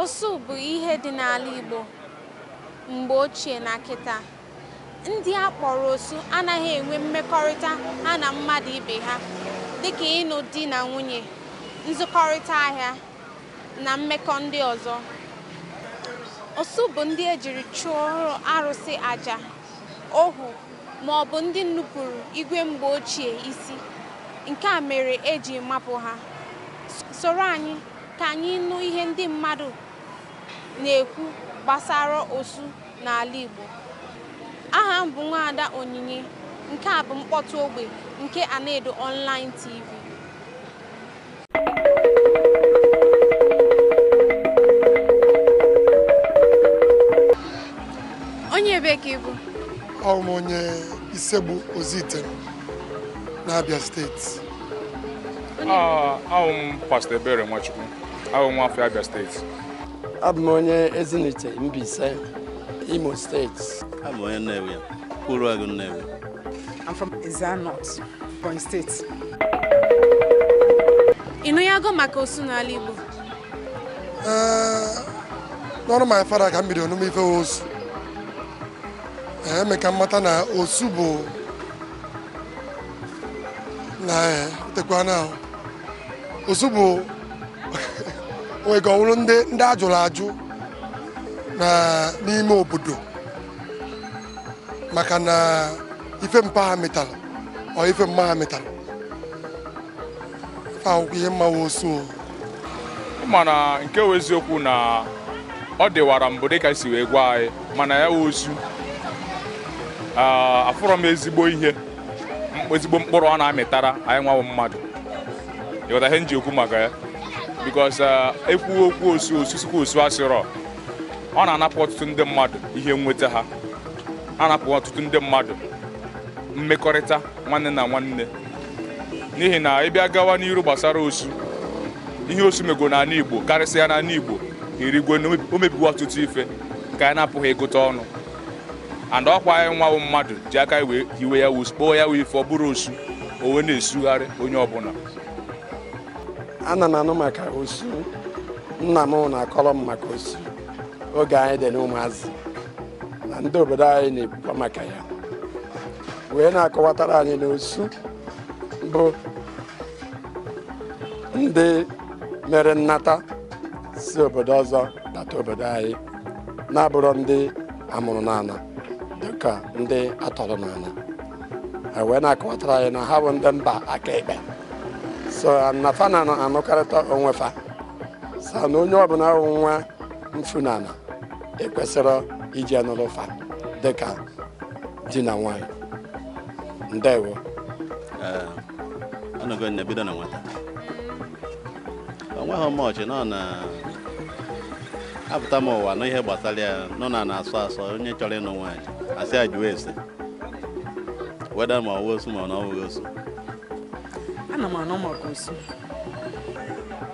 Osu bụ ihe dị n'ala Igbo mgbe ochie na kịta. Ndị a kpọrọ osu anaghị enwe mmekọrịta ha na mmadụ ibe ha dịka ịnụ di na nwunye, nzụkọrịta ahịa na mmekọ ndị ọzọ. Osu bụ ndị e jiri chụọrọ arụsị aja. ohu, ma ọ bụ ndị nupụrụ igwe mgbe ochie isi. Nke a mere e ji mapụ ha. Soro anyị ka anyị nụ ihe ndị mmadụ na-ekwu gbasara osu n'ala Igbo. Aha m bụ Nwaada Onyinye. Nke a bụ mkpọtụ ogbe nke Anaedo Online TV. onye ebe ka ị bụ awụ m onye Isiegbu Ozuitem n'Abịa steeti awụ m pastọ Ebere Nwachukwu awụ m nwa afọ Abịa steeti abụ m onye Ezinihitte Mbaise Imo steeti abụ m onye Nnewi Uruagụ Nnewi I'm from Ezza North. Ebonyi steeti ị nụgo maka osu n'ala Igbo n'ọnụ my father ka m bidoro nụma ife osu e mee ka m mata na osu bụ na tekwa na osu bụ onwe ka ọ wụrụ ndị a jụrụ ajụ n'ime obodo maka na ife mpa ha metara or ife mma ha metara fa akwụkwọ ihe m ma wụ osu o. mana nke wụ eziokwu na ọ dịwara mbụ dịka e si wee gwa anyị mana ya wụ osu Ah, afụrọ m ezigbo ihe m- ezigbo mkpụrụ ọ na-amịtara anyị nwa wụ mmadụ ị ghọta ihe m ji ekwu maka ya because e kwuo okwu osu osu sikwa osu asịrọ ọ na-anapụ ọtụtụ ndị mmadụ ihe nweta ha anapụ ọtụtụ ndị mmadụ mmekọrịta nwanne na nwanne n'ihi na ị bịa gawa n'iru gbasara osu ihe osu mego n'ala Igbo karịsịa n'ala Igbo erigwe na o mebigo ọtụtụ ife nke anyị na-apụghị ịgụta ọnụ and ọ kwa anyị nwa wụ mmadụ ji aka wee hiwe ya kpọọ ya wụ ife ọ bụrụ osu o wee na-esugharị onye ọbụla ana m anụ maka osu nna m na-akọrọ m maka osu oge anyị dị n'ụmụazị na ndị obodo anyị na-ekwukwa maka ya wee na-akọwatara anyị na osu bụ ndị mere nnata si obodo ọzọ bata obodo anyị na-abụrọ ndị a mụrụ n'ala dịka ndị a tọrọ n'ala wee na-akọwatara anyị na ha bụ ndị mba aka ekpe so na fa na anụkarịta onwe fa sị na onye ọbụla wụ nwa mfunana ekwesịrọ iji anụrụ fa dịka di na nwanyị ndewo ọnọgo na e bido na nwata onweghị much nọ na apụta m ụwa n'ihe gbasara ya nọ na na-asọ asọ onye chọrọ ịnụ nwaanyị a sị ya jụọ ese whether ma ọ bụ osu ma na ọ bụghị osu ana m anụ maka osu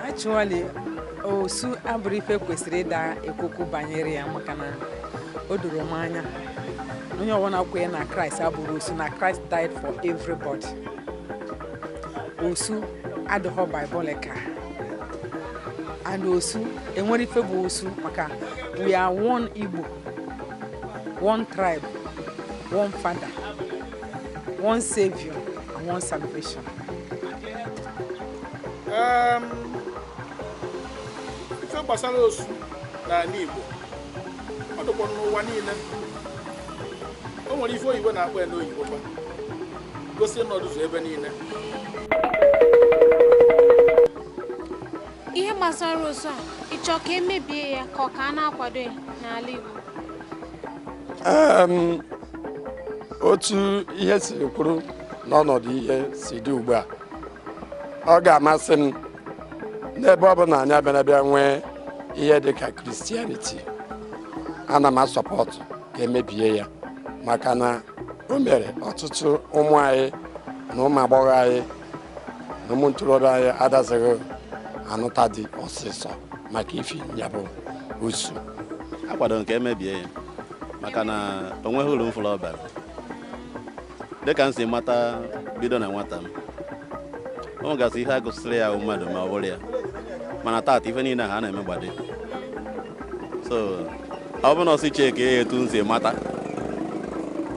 actually osu abụrọ ife kwesịrị ịda ekwu okwu banyere ya maka na o doro m anya na onye ọbụla kwenye na Christ abụrọ osu na Christ died for everybody osu adịghọ biblical and osu enwerọ ife bụ osu maka we are one igbo one tribe one father one savior and one salvation um, ife gbasara osu n'ala Igbo ọ dịkwa n'ụwa niile o nwere ife oyibo na-akpọ ya n'oyibo kwa gosi na ọ dịzu ebe niile ihe gbasara osu a ị chọ ka e mebie ya ka ọ ka a na-akwado ya n'ala Igbo otu ihe siri kwụrụ n'ọnọdụ ihe si dị ugbu a ọ ga-amasị m n'ebe ọ bụ na anyị abịala bịa nwee ihe dị ka Christianity ana m a-support ka e mebie ya maka na o mere ọtụtụ ụmụ anyị na ụmụ agbọghọ anyị na ụmụ ntorobịa anyị adazighị anụta di ọsịsọ maka ifi ya bụ osu akwado m ka e mebie ya maka na o nweghị uru m fụrụ ọ bara dịka m si mata bido na nwata m o nwegasị ihe a gụsịrị ya mmadụ ma ọ bụrụ ya mana taata ife niile ha na-eme gbade so ọ bụrụ na a sị checkie ya etu m si mata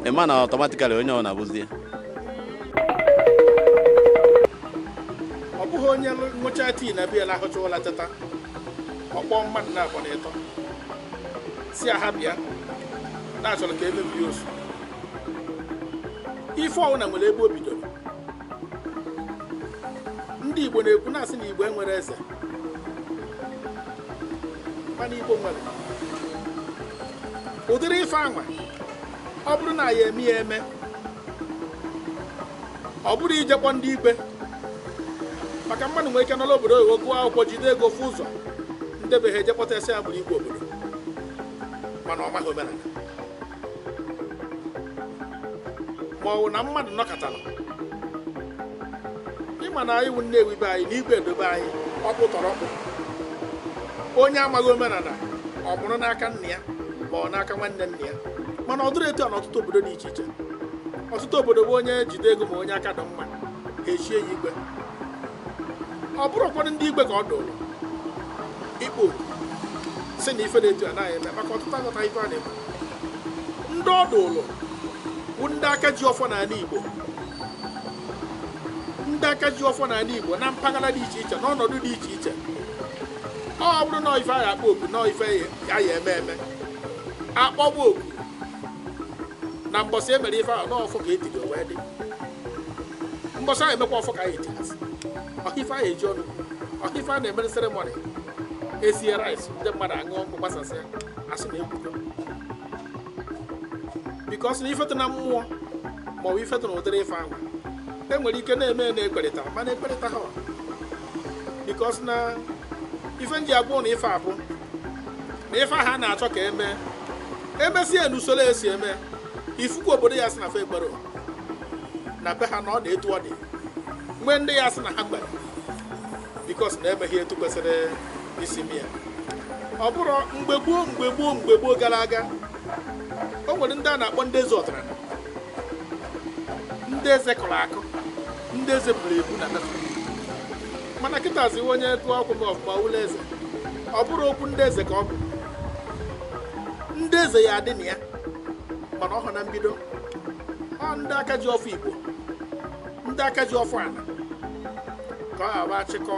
ị ma na automatically onye ọbụna bụzi ya ọ bụghị onye nwụcha tii na biya lahụcha ụla teta ọ kpọọ mmadụ naabọ na ịtọ sị ha bịa na a chọrọ ka e mebe osu ife ọwụna nwere ebe o bidoro ndị igbo na-ekwu na-asị na igbo enwerọ eze mana igbo nwere ụdịrị ife anwa ọ bụrụ na ya eme ya eme ọ bụrụ ijekpọ ndị igwe maka mmadụ nwere ike nọrọ obodo oyibo gụọ akwụkwọ jide ego ofu ụzọ ndị be ha ejekpọta asị ya bụrụ igwe obodo mana ọ maghị omenala ma ọ bụ na mmadụ nọkatara ịma na anyị wụ nnewi be anyị na igwe dị be anyị ọkpụ tọrọ ọkpụ onye amaghị omenala ọ mụrụ n'aka nna ya ma ọ bụ n'aka nwanne nna ya mana ọ dịrọ etu a n'ọtụtụ obodo dị iche iche ọtụtụ obodo bụ onye jide ego ma onye aka dị mma ha echie ya igwe ọ bụrụ ụfọdụ ndị igwe ka ọ dụrụ ịkpọ oku si na ife na-etu anaghị eme maka ọtụtụ aghọta ife a na-eme ndị ọ dụrụ bụ ndị aka ji ọfọ n'ala Igbo ndị aka ji ọfọ n'ala Igbo na mpaghara dị iche iche n'ọnọdụ dị iche iche ọ bụrụ na ife a ya akpọ oku na ife a ya eme eme akpọba oku na mbọsị emere ife ahụ n'ọfọ ka etiri wee dị mbọsị ahụ emekwa ọfọ ka anyị etiri ọha ife ahụ eji ọnụ ọha ife a na-emere seremọnị esie rice ndị mmadụ aṅụọ nkwụ gbasasịa asị na ekwugo bikọs na ifetụ na mmụọ maọbụ ifetụ na ụdịrị ife ahụ e nwere ike na-eme na ekwerịta mana ekwerịta ha because na ife m ji agwa ụnụ ife a bụ na ife ha na-achọ ka eme emesie n'usoro esi eme ife ukwu obodo ya si na fa ekwerọ na be ha na ọ dị etu ọ dị nwee ndị ya si na ha ekwerọ bikos na emeghị etu kwesịrị isi mee ya ọ bụrụ mgbe gboo mgbe gboo mgbe gboo gara aga o nwere ndị a na-akpọ ndị eze ọdịnala ndị eze kọrọ akụ ndị eze buru ebu na mana kịta ziwe onye tụọ akwụ m ọfụma ụlọ eze ọ bụrụ okwu ndị eze ka ọ bụ ndị eze ya adị na ya mana ọ bụ na mbido ọ ndị aka ji ọfọ igbo ndị aka ji ọfọ ala ka ọ aba achịkọ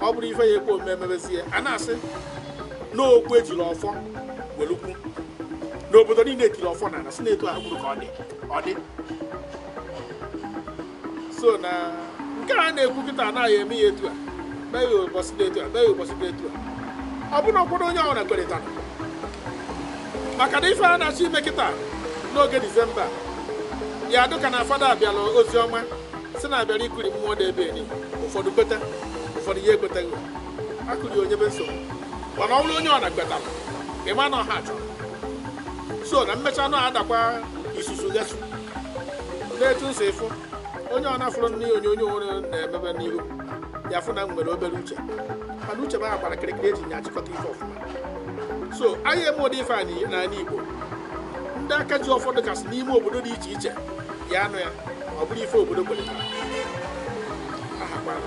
ọ bụrụ ife ya ekwe omume emebezie a na-asị n'okwu ejiri ọfọ welu kwuo n'obodo niile etiri ọfọ n'ala si na etu ahụ ka ọ dị ọ dị so na nke a na-ekwu kịta na a ya eme ya etu a mee ya ụbọchị dị etu a mee ya ụbọchị dị etu a ọ bụrụ ụkwụrụ onye ọbụla kwerịtara maka na ife a na-achọ ime kịta n'oge disemba ya dụ ka na fada abịala ozi ọma si na abịara ịkụrị mmụọ dị ebe anị ụfọdụ kweta ụfọdụ ya ekwetaghị akụrị ya ọ nyebe nsogbu mana ọ bụrụ onye ọbụla kwetara ịma na ọha chọrọ so na mmecha anụ adakwa isusu gasụ n'etu nso ịfụ onye ọ na-afụrụ nne ya onye o nwere na-emebe n'ihu ya fụ na m nwere obere uche mana uche m agbara kịrịkịrị eji nye achịkọta ife ọfụma so anyị eme ụdị ife a n'iyi- n'ala igbo ndị aka ji ọfọ dịkasị n'ime obodo dị iche iche ya anụ ya ọ bụrụ ife obodo kwetara ahakwana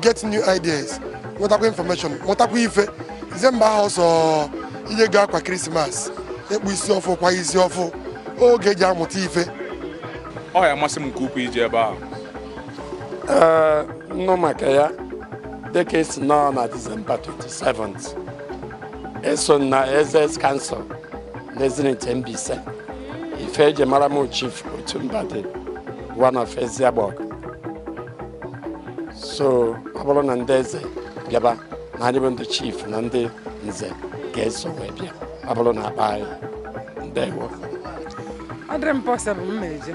get new ideas nwetakwa information mụtakwa ife disemba ahụ ọsọ ije go akwa krismas ịkpụ isi ọfụ kwa isi ọfụ oge eji amụta ife ọ ya amasị m nke ukwuu ije ebe ahụ ee nnụ maka ya dịka esi nọ na disemba 27th eso m na Eze's council na Ezinihitte Mbaise ife eji mara m chief otu mba dị one of Eziagbọgụ so ọ bụrụ na ndị eze bịaba na anyị bụ ndị chief na ndị nze ga-eso wee bịa ọ bụrụ na akpọ anyị ndewo ọ dịrị m possible m ma eje